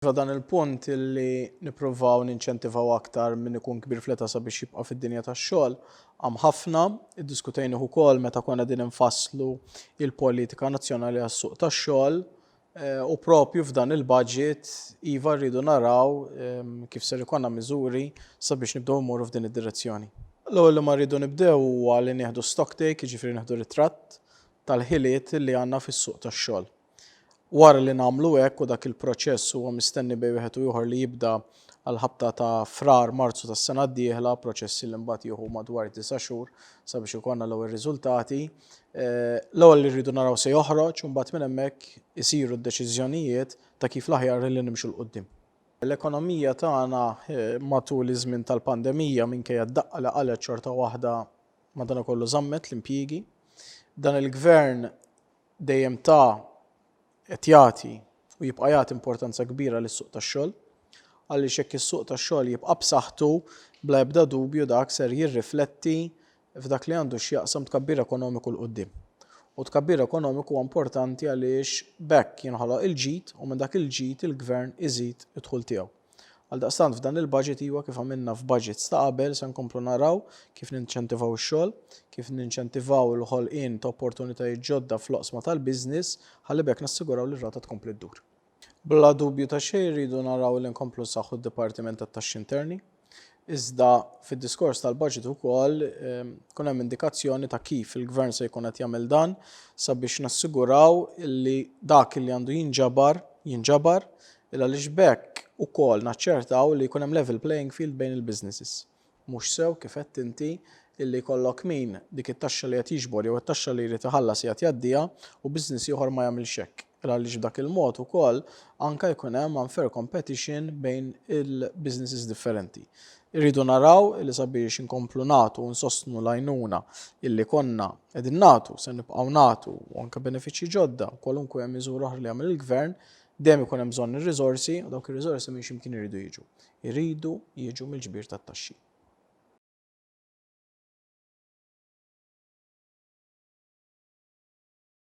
ta' dan il-punt illi nippruvaw ninċentivaw aktar min ikun kbir fl-età sabiex jibqa' fid-dinja tax-xogħol għam ħafna. Iddiskutejnih ukoll meta konna din infasslu il-politika nazzjonali għas-suq tax-xogħol u propju f'dan il-budget iva rridu naraw kif ser ikonna miżuri sabiex nibdew immorru f'din id-direzzjoni. L-ewwel li ma rridu nibdew huwa li nieħdu stock take, jiġifieri nieħdu ritratt tal-ħiliet li għandna fis-suq tax-xogħol. Wara li nagħmlu hekk u dak il-proċess huwa mistenni bejn wieħed u ieħor li jibda għall-ħabta ta' Frar, Marzu tas-sena d-dieħla, proċessi li mbagħad jieħu madwar disa' xhur sabiex ikollna l-ewwel riżultati, eh, l-ewwel li rridu naraw se joħroġ u mbagħad minn hemmhekk isiru d-deċiżjonijiet ta' kif l-aħjar li nimxu l quddiem. L-ekonomija tagħna eh, matul iż-żmien tal-pandemija minkejja d-daqqa li qalet xorta waħda madanakollu żammet l-impjiegi. Dan il-gvern dejjem ta qed jagħti u jibqa' jagħti importanza kbira lis-suq tax-xogħol, għaliex jekk is-suq tax-xogħol jibqa' b'saħħtu, bla ebda dubju dak ser jirrifletti f'dak li għandu x'jaqsam tkabbir ekonomiku 'l quddiem. U t-tkabbir ekonomiku huwa importanti għaliex b'hekk jinħoloq il-ġid u minn dak il-ġid il-Gvern iżid id-dħul tiegħu. Għaldaqstant f'dan il-baġit, iwa kif għamilna f'baġits ta' qabel, se nkomplu naraw kif ninċentivaw ix-xogħol, kif ninċentivaw il-ħolqien ta' opportunitajiet ġodda fl-oqsma tal-business ħalli b'hekk nassiguraw li r-rata tkompli ddur. Bla dubju ta' xejn irridu naraw li nkomplu nsaħħu d-Dipartiment tat-Taxxi Interni. Iżda fid-diskors tal-baġit ukoll tkun hemm indikazzjoni ta' kif il-Gvern se jkun qed jagħmel dan sabiex nassiguraw li dak li għandu jinġabar, jinġabar, għaliex b'hekk ukoll naċċertaw li jkun hemm level playing field bejn il-businesses. Mhux sew, kif għedt inti, illi jkollok min dik it-taxxa li qed jiġbor jew it-taxxa li jrid iħallas qiegħed jgħaddiha u business ieħor ma jagħmilx hekk. Għaliex b'dak il-mod ukoll anke jkun hemm unfair competition bejn il-businesses differenti. Irridu naraw li sabiex inkomplu nagħtu u nsostnu l-għajnuna illi konna qegħdin nagħtu, se nibqgħu nagħtu u anke benefiċċji ġodda, kwalunkwe miżura oħra li jagħmel il-Gvern, dejjem ikun hemm bżonn ir-riżorsi u dawk ir-riżorsi minn x'imkien iridu jiġu. Iridu jiġu mill-ġbir tat-taxxi.